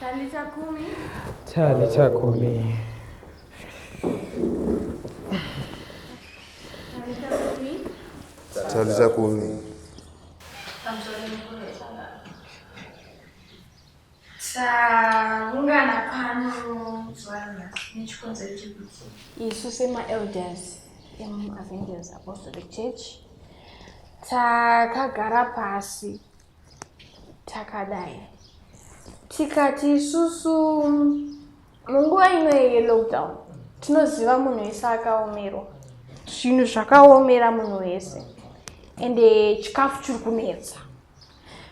Chali cha kumi. Chali cha kumi. Taungana pano zuva nechikonzero chekuti isu semaelders emuavengers apostolic church takagara pasi takadai tikati isusu munguva ino yelockdown tinoziva munhu wese akaomerwa zvinhu zvakaomera munhu wese ende chikafu chiri kunetsa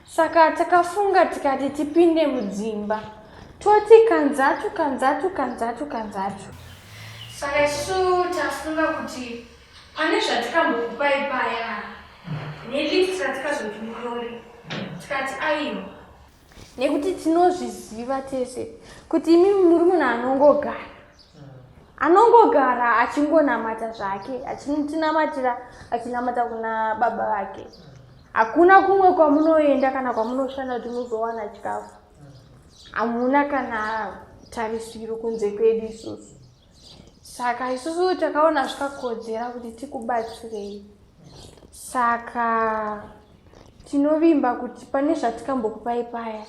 Saka takafunga tikati tipinde mudzimba toti kanzatu kanzatu kanzatu kanzatu. Saka isu tafunga kuti pane zvatikambokupai paya nelift ratikazoti murori tikati aiwa nekuti tinozviziva tese kuti imi muri munhu anongogara anongogara achingonamata zvake achinotinamatira achinamata kuna baba vake hakuna kumwe kwamunoenda kana kwamunoshanda kuti muzowana chikafu hamuna kana tarisiro kunze kwedu isusu saka isusu takaona zvikakodzera kuti tikubatsirei saka tinovimba kuti pane zvatikambokupai paya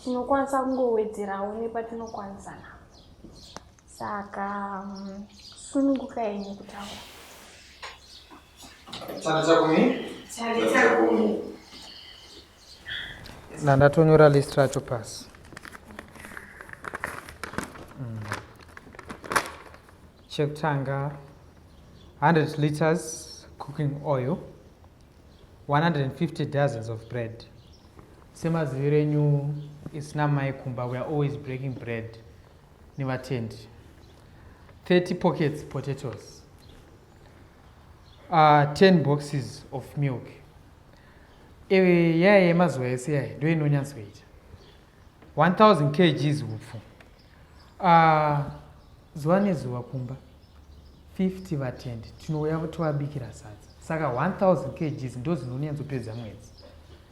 tinokwanisa kungowedzerawo nepatinokwanisa napo Saka mm, sununguka yenyu kutaura. Chana chako mi? Chana chako mi. Na ndatonyora list racho pasi. Mm. Chekutanga 100 liters cooking oil 150 dozens of bread semaziviro enyu isina mai kumba we are always breaking bread nevatendi 30 pockets potatoes uh, ah, 10 boxes of milk ewe yaya yemazuva ese yaya ndo inonyatsoita 1000 kgs upfu uh, ah, zuva nezuva kumba 50 vatendi tinouya tovabikira sadza saka 1000 kgs ndo zinonyanzopedza mwedzi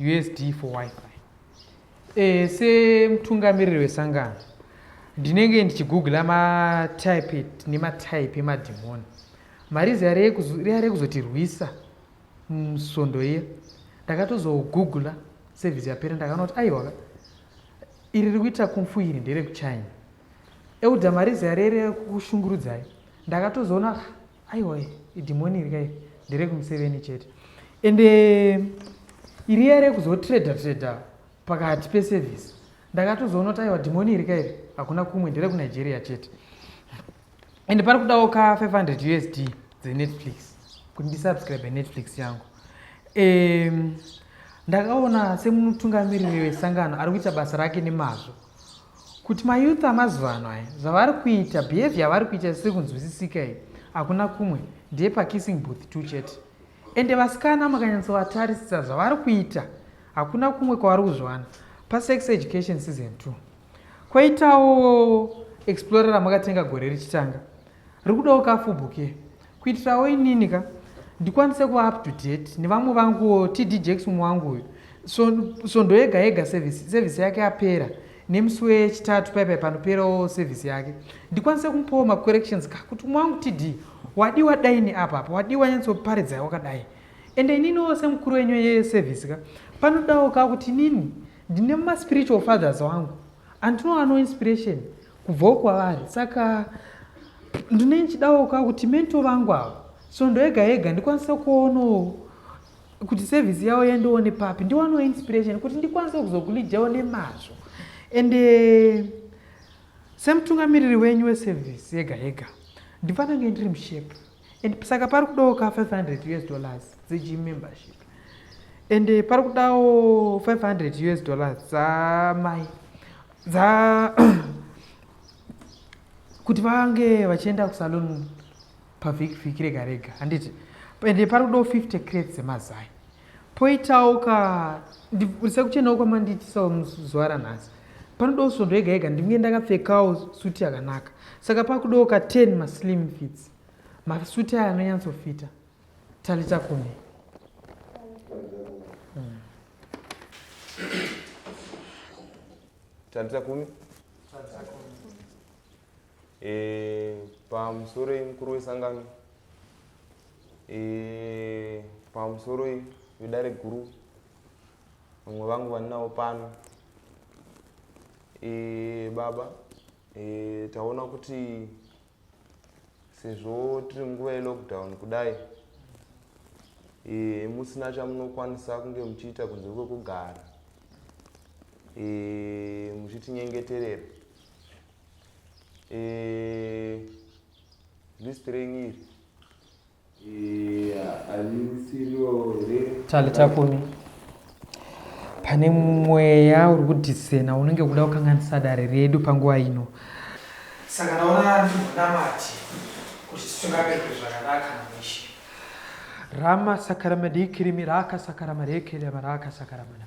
usd for wifi e, semutungamiriri wesangano ndinenge ndichigoogle matype nematype emadhimoni marizi yare kuzotirwisa musvondo iya ndakatozogoogla sevhisi yapera ndakaona kuti aiwaka iri ri kuita kumfu iri nderekuchina euda marizi yare rekushungurudzai ndakatozoona aiwa idhimoni iri kai nderekumuseveni chete ende eh, iri yare kuzotrader trader pakati peservice ndakatozoona kuti aiwa dhimoni iri kairi hakuna kumwe nderekunigeria chete ende pari kudawo ka 500 usd dzenetflix kuti ndisubscribe netflix yangu um, ndakaona semutungamiriri wesangano ari kuita basa rake nemazvo kuti mayouth amazuva ano aya zvavari kuita behavior yavari kuita zvisiri kunzwisisika iyi hakuna kumwe ndeyepakissing booth two chete ende vasikana makanyatsovatarisa zvavari kuita hakuna kumwe kwavari kuzviwana pasex education season two kwaitawo explorer ramakatenga gore richitanga rikudawo kafubhuke kuitirawo inini ka ndikwanise kuva up to date nevamwe vanguwo td jacks umwe wangu uyu svondo yega yega sevhisi sevhisi yake yapera nemusi wechitatu paipai panoperawo sevhisi yake ndikwanise kumupawo macorrections ka kuti umwe wangu td wadiwa daini apa apa wadiwa nyatsoparidzayi wakadai ende ininiwo semukuru wenyu yesevhisi ka panodawo ka kuti inini ndine maspiritual fathers wangu andinoano inspiration kubvawo kwavari saka ndine ndichidawo ka kuti mento vangu avo svondo yega yega ndikwanise kuonawo kuti sevhisi yavo yandione papi ndiwanewo inspiration kuti ndikwanise kuzokulidhawo nemazvo ende eh, semutungamiriri wenyu wesevhisi yega yega ndifanange ndiri mushepe and saka pari kudawo ka 500 us dollars dzegym membership ende eh, pari kudawo 500 us dollars dzamai dza kuti vange vachienda kusalon pavhiki vhiki rega rega handiti ende pari kudawo 50 crate dzemazai poitawo ka sekuchenawo kwamandiitisawo muzuva ranhasi panodawo svondo yega yega ndinge ndakapfekawo suti yakanaka saka pakudawo ka 10 maslim fits masuti aya anonyatsofita Talita kumi. Hmm. Talita kumi. Talita kumi. Eh, pamusoro mukuru wesangano eh, pamusoro vedare guru vamwe vangu vandinawo pano eh, baba eh, taona kuti sezvo tiri nguva yelockdown kudai e, musina chamunokwanisa kunge muchiita kunze kwekugara e, muchitinyengeterera e, list renyu iri tali takumi pane mweya uri kudhisena unenge kuda kukanganisa dare redu panguva ino saka naona ndimunamati kuti titungamirwe zvakanaka namishe rama sakaramadikirimi raka sakaramadekelemaraka sakaramana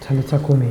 Tano tsako me.